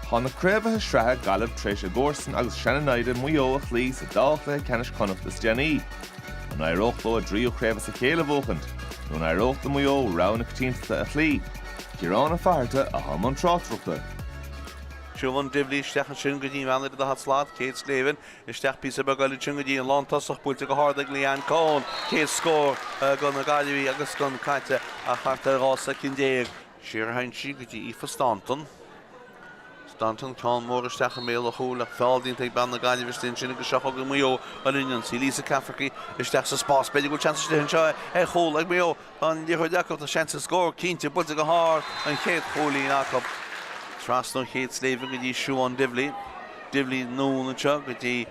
Tá na craobhaithe sraithe, Gaillimh tar éis a gcomharsain agus sean-naimhde Maigh Eo a chloí sa dá chluiche ceannais Chonnacht is déanaí. An éireodh leo a dtríú craobh as a chéile a bhuachaint? Nó an éireodh do Mhaigh Eo rogha na coitiantachta a chloí? Ciarán Ó Fatharta, atá i mbun tráchtaireachta. Siobhán Divilly isteach ansin go dtí an bhean ar an daichead slat, Kate Slevin, isteach píosa beag eile ansin go dtí an lántosach, buailte go hard ag Leanne Coen, céad scór do na Gaillimhigh agus gan caite ach thart ar dhá soicind déag. Siar a théann sí go dtí Aoife Staunton. Staunton, ceann mór isteach i mbéal an chúil, ach feall déanta ag bean na Gaillimhe, istigh ansin agus seo chugainn Maigh Eo ar an ionsaí, Lisa Cafferky isteach sa spás, b'fhéidir go bhfuil seans istigh anseo ar chúl ag Maigh Eo, tá an liathróid acu, tá seans ar scór, cinnte, buailte go hard, an chéad chúilín acu. Trasna ó Kate Slevin go dtí Siobhán Divilly, Divilly anonn anseo go dtí.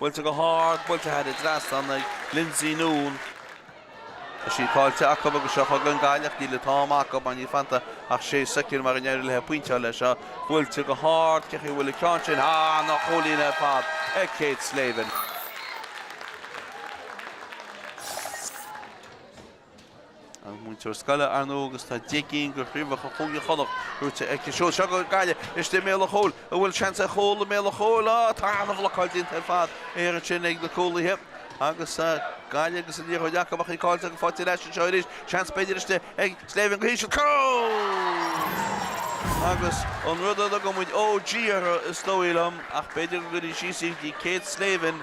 Buailte go hard, buailte thar an trasnán ag Lynsey Noone. Tá sí caillte acu agus seo chugainn Gaillimh. Níl an t-am acu mar níl fanta ach sé soicind mara n-éirí léi pointe a fháil leis seo. Buailte go hard, cé chaoi a bhfuil an ceann sin? Á, an-chúilín ar fad ag Kate Slevin. Is múinteoir scoile ar ndóigh agus tá deich gcinn de chraobhacha Chúige Chonnacht buaite aici. Seo, seo chugainn Gaillimh isteach i mbéal an chúil, an bhfuil seans ar chúl i mbéal an chúil. Tá an-bhlocáil déanta ar fad thiar ansin ag na cúlaithe agus Gaillimh agus an liathróid acu ach í caillte go fáiltiúil as sin. Seo arís seans b'fhéidir istigh ag Slevin go híseal. Cúl! Agus an rud a dtugann muid OG orthu is dóigh liom ach b'fhéidir go gcuirfí síos í do Kate Slevin.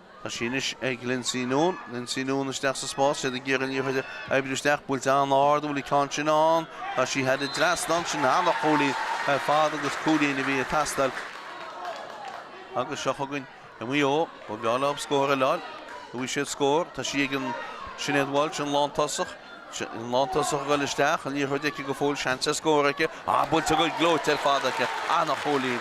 Tá sí anois ag Lynsey Noone. Lynsey Noone isteach sa spás, is iad ag iarraidh an liathróid a oibriú isteach. Buailte an-ard, an bhfuil an ceann sin ann. Tá sí thar an trasnán. Sin an-chúilín ar fad agus cúilín a bhí ag teastáil. Agus seo chugainn Maigh Eo, ba bhreá leo scór eile a fháil. An bhfaighidh siad scór. Tá sí ag an Sinéad Walsh, an lántosach. An lántosach a ghoil isteach, an liathróid aici go fóill, seans ar scór aici, ah buailte go gleoite ar fad aici, an-chúilín.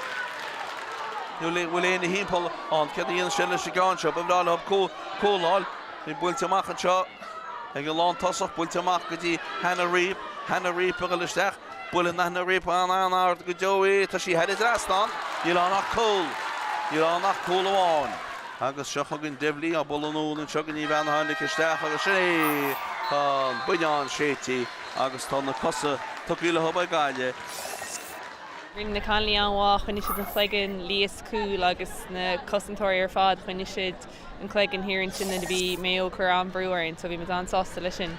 An bhfuil éinne ina timpeall ann, céard a dhéanfaidh sí leis an gceann seo, ba bhreá leo cúl a fháil, í buailte amach anseo ag an lántosach, buailte amach go dtí Hannah Reape, Hannah Reape a ghoil isteach, Buaileann Hannah Reape an-ard go deo é. Tá sí thar an trasnán. Níl ann ach cúl. Níl ann ach cúl amháin. Agus seo chugainn Divilly á bualadh anonn anseo go dtí an bhean a tháinig isteach agus sin é! Tá an buinneán séidte agus tá na cosa tugtha leo ag Gaillimh. Rinne na cailíní an-mhaith, choinnigh siad an cloigeann Leah sa gcúl agus na cosantóirí ar fad, choinnigh siad an cloigeann thiar ansin nuair a bhí Maigh Eo ag cur an-brú orainn so bhí muid an-sásta leis sin.